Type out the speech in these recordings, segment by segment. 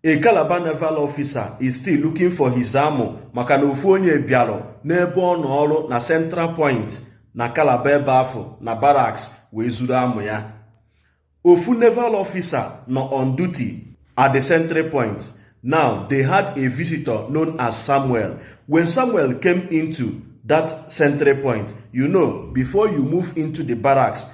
A Calabar naval officer is still looking for his amụ maka na ofu onye bịarụ n'ebe ọ nọ ọrụ na Central Point na Calabar ebe afụ na barracks wee zuru amụ ya. Ofu naval officer nọ on duty at the sentry point. Now they had a visitor known as Samuel. When Samuel came into that sentry point, you know, before you move into the barracks,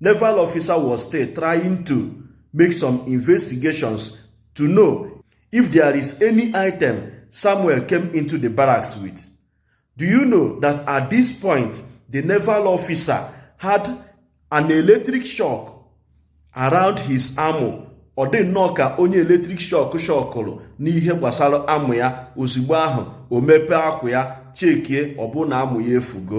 Naval officer was still trying to make some investigations to know if there is any item Samuel came into the barracks with. Do you know that at this point, the naval officer had an electric shock around his amụ ọ dị nnọọ ka onye electric shock shọkụrụ n'ihe gbasara amụ ya ozugbo ahụ o mepee akwa ya chekie ọ bụrụ na amụ ya efugo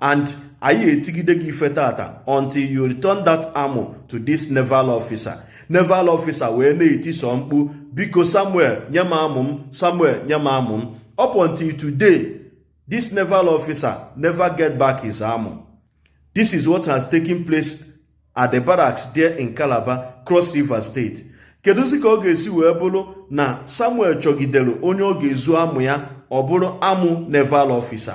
and anyị etigide gị ife tata until you return that amụ to this naval officer naval officer wee na-etisọ mkpu biko samuel nye m amụ m samuel nye m amụ m up until today this naval officer never get back his amụ this is what has taken place at the barracks there in calabar cross river state kedụzi ka ọ ga-esi wee bụrụ na samuel chọgidere onye ọ ga-ezu amụ ya ọ bụrụ amụ naval officer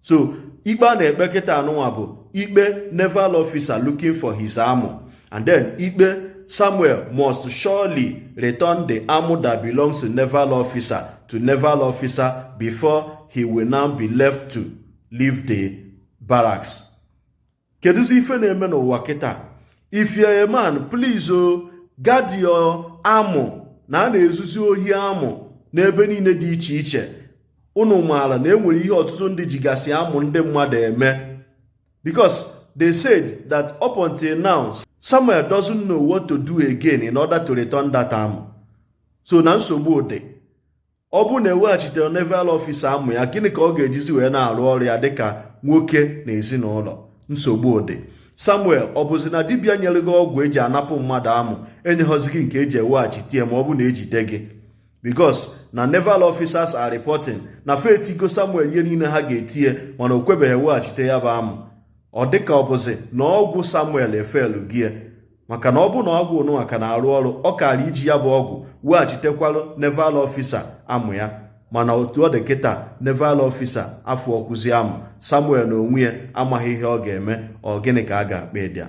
so ikpe a na-ekpe kịta anụnwa bụ ikpe naval officer looking for his amụ and then ikpe samuel must surely return the amụ that belongs to naval officer to naval officer before he will now be left to leave the barracks kedụzi ife na-eme n'ụwa kịta if you're a man please o, guard your amụ na a na-ezuzi ohi amụ n'ebe niile dị iche iche unu maara na enwere ihe ọtụtụ ndị jigasị amụ ndị mmadụ eme because they said that up until now Samuel doesn't know what to do again in order to return that amụ so na nsogbu dị ọ bụrụ na eweghachiterọ naval officer amụ ya gịnị ka ọ ga-ejizi wee na-arụ ọrụ ya dịka nwoke na ezinụlọ nsogbu dị samuel ọ bụzi na dibịa nyere gị ọgwụ eji anapụ mmadụ amụ enyeghọzi gị nke eji eweghachite ya ma ọ bụ na ejide gị because na naval officers are reporting na fa etigo samuel ihe niile ha ga-eti ya mana o kwebeghị eweghachite ya bụ amụ ọ dịka ọ bụzi na ọgwụ samuel efelugo ya maka na ọ bụrụ na ọgwụ nụnwa ka na-arụ ọrụ ọ kaara iji ya bụ ọgwụ weghachitekwarụ naval officer amụ ya mana otu ọ dị kịta naval officer afụghọkwụzi amụ samuel na onwe ya amaghị ihe ọ ga-eme ọ gịnị ka a ga-akpọ ụdị a